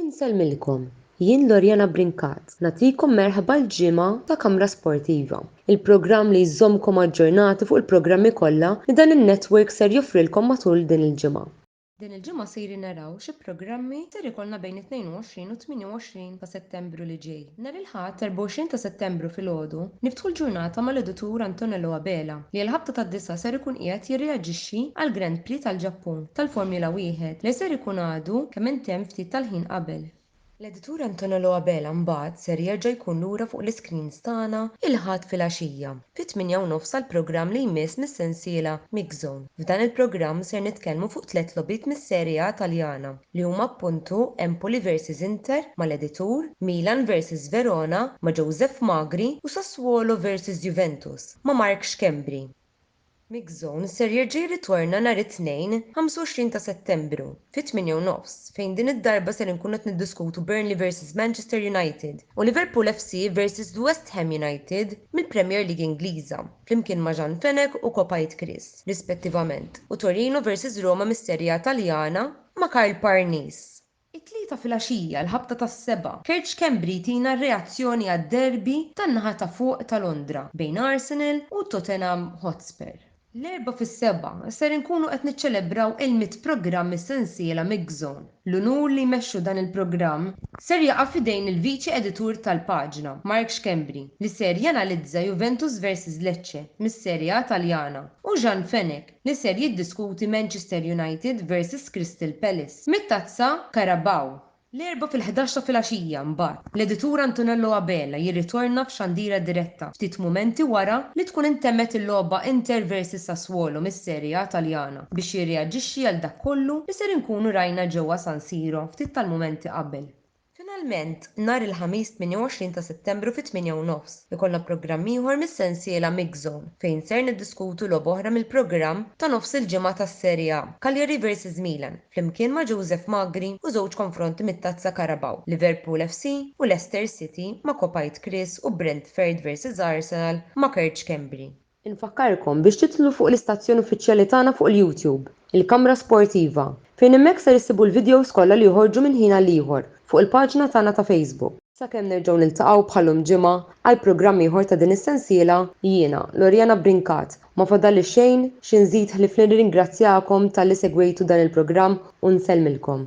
Insellmilkom, jien Loriana Brincat nagħtikom merħba l-ġimgħa ta' Kamra Sportiva, il-programm li jżommkom aġġornati fuq il-programmi kollha li dan in-network ser joffrilkom matul din il-ġimgħa. Din il-ġimgħa sejrin naraw xi programmi ser ikollna bejn it-22 u t-28 ta' Settembru li ġej. Nhar il-Ħadd 24 ta' Settembru filgħodu niftħu l-ġurnata mal-Editur Antonello Abela li għall-ħabta tad-disgħa ser ikun qiegħed jirreaġixxi għall-Grand Prix tal-Ġappun tal-Formula Wieħed li ser ikun għadu kemm intemm ftit tal-ħin qabel. L-Editur Antonello Abela mbagħad ser jerġa' jkun lura fuq l-iscreens tagħna il-Ħadd filgħaxija Fit-tmienja u nofs għall-programm li jmiss mis-sensiela Mixzone. F'dan il-programm ser nitkellmu fuq tliet logħbiet mis-Serie A Taljana li huma appuntu Empoli versus Inter mal-editur, Milan versus Verona ma' Joseph Magri u Sassuolo versus Juventus ma' Mark Schembri. Mix Zone ser jerġa' jirritorna nhar it-Tnejn, 25 ta' Settembru, fit-tmienja u nofs, fejn din id-darba ser inkunu qed niddiskutu Burnley versus Manchester United u Liverpool FC versus The West Ham United mill-Premier League Ingliża, flimkien ma' Jean Fenech u Copite Chris, rispettivament, u Torino versus Roma mis-Serie A Taljana ma' Karl Parnis. It-Tlieta filgħaxija, l-ħabta tas-Seba', Kerċ Schembri jtina r-reazzjoni għad-derby tan-naħa ta' fuq ta' Londra bejn Arsenal u Tottenham Hotspur. L-Erbgħa fis-Sebgħa ser inkunu qed niċċelebraw il-mitt programm mis-sensiela Mixzone. L-unur li jmexxu dan il-programm ser jaqa' f'idejn il-Viċi Editur tal-paġna, Mark Schembri, li ser janalizza Juventus versus Lecce mis-Serie A Taljana u Jean Fenech, li ser jiddiskuti Manchester United versus Crystal Palace mit-Tazza Carabao. L-Erbgħa fil-ħdax ta' filgħaxija, mbagħad, l-editur Antonello Abela jirritorna f'xandira diretta ftit mumenti wara li tkun intemmet il-logħba Inter versus Sassuolo mis-Serie A Taljana biex jirreaġixxi għal dak kollu li ser inkunu rajna ġewwa San Siro ftit tal-mumenti qabel Finalment, nhar il-Ħamis 28 ta' Settembru fit-tmienja u nofs, ikollna programm ieħor mis-sensiela Mix Zone fejn ser niddiskutu logħba oħra mill-programm ta' nofs il-ġimgħa tas-Serie A, Cagliari versus Milan, flimkien ma' Joseph Magri u żewġ konfronti mit-Tazza Carabao, Liverpool FC u Leicester City ma' Kopajt Chris u Brentferd versus Arsenal ma' Kerċ Schembri. Infakkarkom biex tidħlu fuq l-istazzjon uffiċjali tagħna fuq il-YouTube, il-Kamra Sportiva, fejn hemmhekk ser issibu l-videos kollha li joħorġu minn ħin għal ieħor fuq il-paġna tagħna ta' Facebook. Sakemm nerġgħu niltaqgħu bħal-lum Ġimgħa għal programm ieħor ta' din is-sensiela, jiena, Loriana Brincat, ma fadalli xejn xi nżid ħlief li nirringrazzjakom talli segwejtu dan il-programm u nsellmilkom.